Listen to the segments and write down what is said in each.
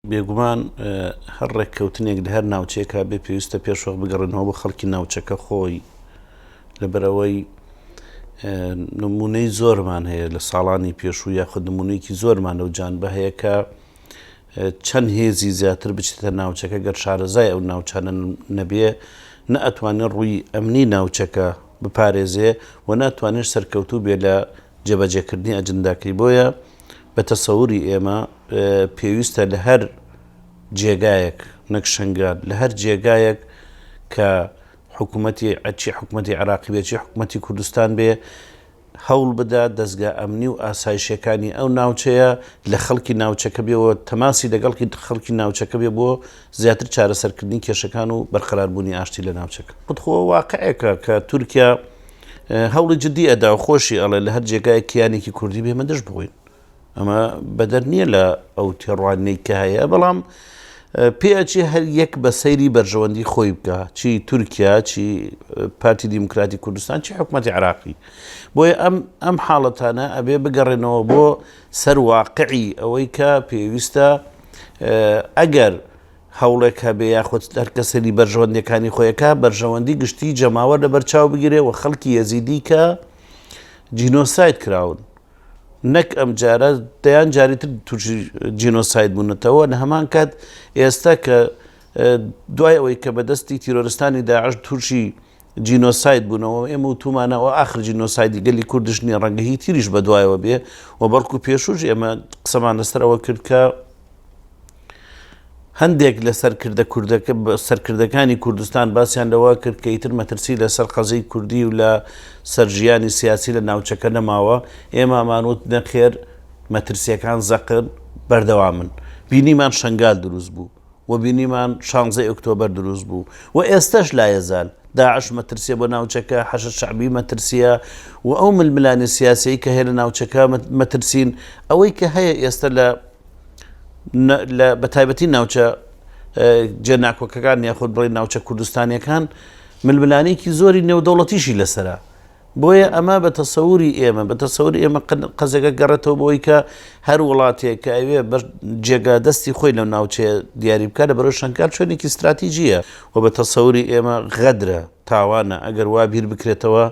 بێگومان هەر ڕێککەوتنێک لە هەر ناوچەیەک هەبێ پێویستە پێش وەخت بگەڕێنەوە بۆ خەڵکی ناوچەکە خۆی لەبەرەوەی نمونەی زۆرمان هەیە لە ساڵانی پێشوو یاخود نمونەیەکی زۆرمان لەو جانبە هەیە کە چەند هێزی زیاتر بچێتە ناوچەکە گەر شارەزای ئەو ناوچانە نەبێ نە ئەتوانێت ڕووی ئەمنی ناوچەکە بپارێزێ و ناتوانێت سەرکەوتوو بێ لە جێبەجێکردنی ئەجنداکەی بۆیە بە تەسەوری ئێمە پێویستە لە هەر جێگایەک نەک شنگال لە هەر جێگایەک کە حکوومەتی ئەچی حکوومەتی عراقی بێچی حکوومەتی کوردستان بێ هەوڵ بدا دەستگا ئەمنی و ئاسایشەکانی ئەو ناوچەیە لە خەڵکی ناوچەکە بێەوە تەماسی لەگەڵکی خەڵکی ناوچەکە بێ بۆ زیاتر چارەسەرکردنی کێشەکان و بەرقەراربوونی ئاشتی لە ناوچەکە خودخۆ واقعێکە کە تورکیا هەوڵی جدی ئەدا و خۆشی ئەڵێ لە هەر جێگایەک کیانێکی کوردی بێ ئێمە دژ بووین. ئەمە بەدەر نییە لە ئەو تێڕوانینەی کە هەیە، بەڵام پێ ئەچێ هەر یەک بە سەیری بەرژەوەندی خۆی بکا، چی تورکیا، چی پارتی دیموکراتی کوردستان، چی حکومەتی عێراقی. بۆیە ئەم ئەم حاڵەتانە ئەبێ بگەڕێنەوە بۆ سەر واقعی ئەوەی کە پێویستە ئەگەر هەوڵێک هەبێ یاخود هەر کەس سەیری بەرژەوەندیەکانی خۆی ئەکا بەرژەوەندی گشتی جەماوەر لە بەر چاو بگیرێ و خەڵکی یەزیدی کە جینۆساید کراون نەک ئەم جارە دەیان جاری تر تووشی جینۆساید بوونەتەوە لە هەمان کات ئێستا کە دوای ئەوەی کە بەدەستی تیرۆرستانی داعش تووشی جینۆساید بونەوە و ئێمە وتومانە ئەوە ئاخر جینۆسایدی گەلی کوردش نیە ڕەنگە هی تریش بە دوایەوە بێ و بەڵکو پێشوش ئێمە قسەمان لەسەر ئەوە کرد کە هەندێک لە سەرکردە کوردەکە سەرکردەکانی کوردستان باسیان لەوە کرد کە ئیتر مەترسی لەسەر قەزەی کوردی و لە سەرژیانی سیاسی لە ناوچەکە نەماوە ئێمە مانوت نەخێر مەترسیەکان زەقن بەردەوامن بینیمان شنگال دروست بوو و بینیمان شانزەی ئۆکتۆبەر دروست بوو و ئێستەش لایەزال داعش مەترسیە بۆ ناوچەکە، حەشد شەعبی مەترسیە و ئەو ململانێ سیاسیەی کە هەیە لە ناوچەکە مەترسین، ئەوەی کە هەیە ئێستە لە لە بە تایبەتی ناوچە جێ ناکۆکەکان یاخود بڵێ ناوچە کوردستانیەکان ململانێکی زۆری نێودەوڵەتیشی لەسەرە. بۆیە ئەمە بە تەسەوری ئێمە، بە تەسەوری ئێمە قەزێکە گەڕێتەوە بەوەی کە هەر وڵاتێک کە ئەوێ بە جێگا دەستی خۆی لەو ناوچەیە دیاری بکە لە بەرەو شەنکال شوێنێکی ستراتیجیە و بە تەسەوری ئێمە غەدرە، تاوانە ئەگەر وا بیر بکرێتەوە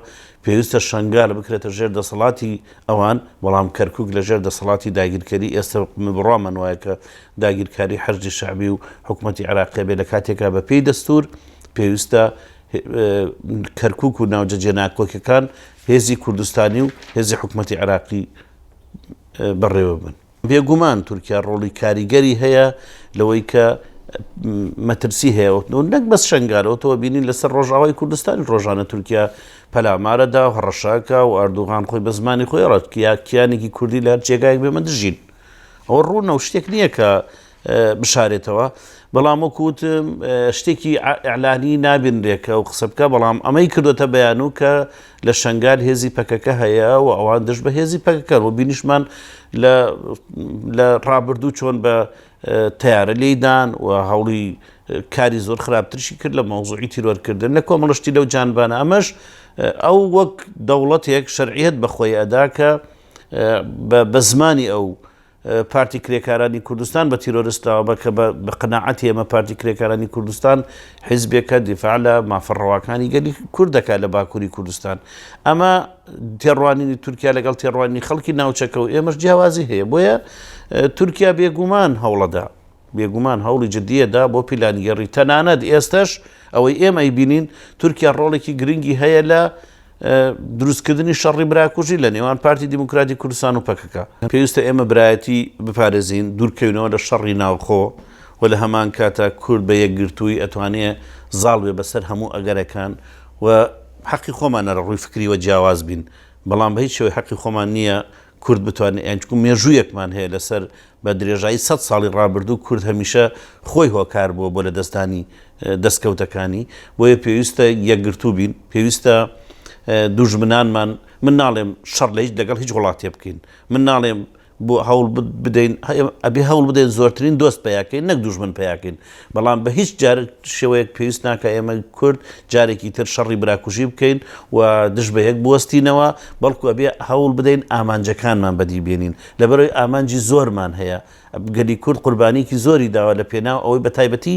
پێویستە شەنگال بکرێتە ژێر دەسەڵاتی ئەوان، بەڵام کەرکوک لە ژێر دەسەڵاتی داگیرکەری ئێستە بڕوامان وایە کە داگیرکاری حەشدی شەعبی و حکومەتی عێراقیە بێ لە کاتێکا بە پێی دەستور پێویستە کەرکوک و ناوجە جێناکۆکەکان هێزی کوردستانی و هێزی حکومەتی عێراقی بەڕێوە بن. بێگومان تورکیا ڕۆڵی کاریگەری هەیە لەوەی کە مەترسی هەیە و نەک بەس شنگالەوە تەوە بینین لەسەر ڕۆژاوای کوردستانی ڕۆژانە تورکیا پەلامارەدا و هەڕەشاکە و ئاردوغان خۆی بە زمانی خۆی ڕەتکییا کیانێکی کوردی لە هەر جێگایەک بێمە دژین ئەوە ڕوونە و شتێک نییە کە بشارێتەوە بەڵام وەکو وتم شتێکی ئیعلانی نابینرێ کە ئەو قسە بکا بەڵام ئەمەی کردوەتە بەیانوو کە لە شەنگال هێزی پەکەکە هەیە و ئەوان دژ بە هێزی پەکەکەن و بینیشمان لە ڕابردوو چۆن بە تیارە لێدان و هەوڵی کاری زۆر خراپترشی کرد لە مەوزوعی تیرۆرکردن لە کۆمەڵشتی لەو جانبانە ئەمەش ئەو وەک دەوڵەتێک شەرعیت بەخۆی ئەدا کە بە زمانی ئەو پارتی کرێکارانی کوردستان بە تیرۆرست ناوبە کە بە قەناعەتی ئێمە پارتی کرێکارانی کوردستان حیزبێکە دیفاع لە مافە ڕەواکانی گەلی کورد دەکات لە باکووری کوردستان ئەمە تێڕوانینی تورکیا لەگەڵ تێڕوانینی خەڵکی ناوچەکە و ئێمەش جیاوازی هەیە بۆیە تورکیا بێگومان هەوڵەدا بێگومان هەوڵی جددیەدا بۆ پیلانگەڕی تەنانەت ئێستش ئەوەی ئێمە ئەیبینین تورکیا ڕۆڵێکی گرنگی هەیە لە دروستکردنی شەڕی براکوژی لە نێوان پارتی دیموکراتی کوردستان و پەکەکە. پێویستە ئێمە برایەتی بپارێزین، دوورکەوینەوە لە شەڕی ناوخۆ و لە هەمانکاتا کورد بە یەکگرتوویی ئەتوانێ زاڵ بێ بەسەر هەموو ئەگەرەکان و حەقی خۆمانە لە ڕووی فکرییەوە جیاواز بین بەڵام بە هیچ شێوەی حەقی خۆمان نییە کورد بتوانێ یان چونکە مێژوویەکمان هەیە لەسەر بە درێژایی سەد ساڵی ڕابردوو کورد هەمیشە خۆی هۆکار بووە بۆ لەدەستدانی دەستکەوتەکانی، بۆیە پێویستە یەکگرتوو بین، پێویستە دوژمنانمان، من ناڵێم شەڕ لە هیچ لەگەڵ هیچ وڵاتێ بکەین، من ناڵێم بۆ هەوڵ بدەین، ئەبێ هەوڵ بدەین زۆرترین دۆست پەیا کەین نەک دوژمن پەیا کەین، بەڵام بە هیچ جار شێوەیەک پێویست ناکا ئێمە کورد جارێکی تر شەڕی براکوژی بکەین و دژ بە یەک بوەستینەوە، بەڵکو ئەبێ هەوڵ بدەین ئامانجەکانمان بەدی بێنین. لەبەرئەوەی ئامانجی زۆرمان هەیە، گەلی کورد قوربانییەکی زۆری داوە لە پێناو ئەوەی بە تایبەتی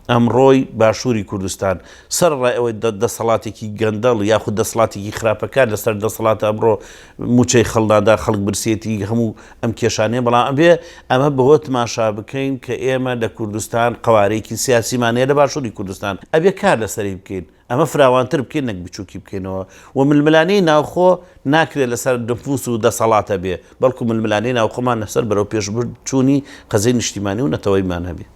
ئەمڕۆی باشووری کوردستان، سەرەڕای ئەوەی دە دەسەڵاتێکی گەندەڵ یاخود دەسڵاتێکی خراپەکار لە سەر دەسەڵاتە ئەمڕۆ مووچەی خەڵ نادا خەڵک برسیەتی هەموو ئەم کێشانەیە بەڵام ئەبێ ئەمە بەوە تماشا بکەین کە ئێمە لە کوردستان قەوارەیەکی سیاسیمان هەیە لە باشووری کوردستان ئەبێ کار لە سەری بکەین. ئەمە فراوانتر بکەین نەک بچووکی بکەینەوە و ململانێی ناوخۆ ناکرێت لەسەر نفوس و دەسەڵات هەبێت، بەڵکو ململانێی ناوخۆمان لەسەر بەرەوپێشبرد چوونی قەزیەی نیشتیمانی و نەتەوەیمان هەبێت.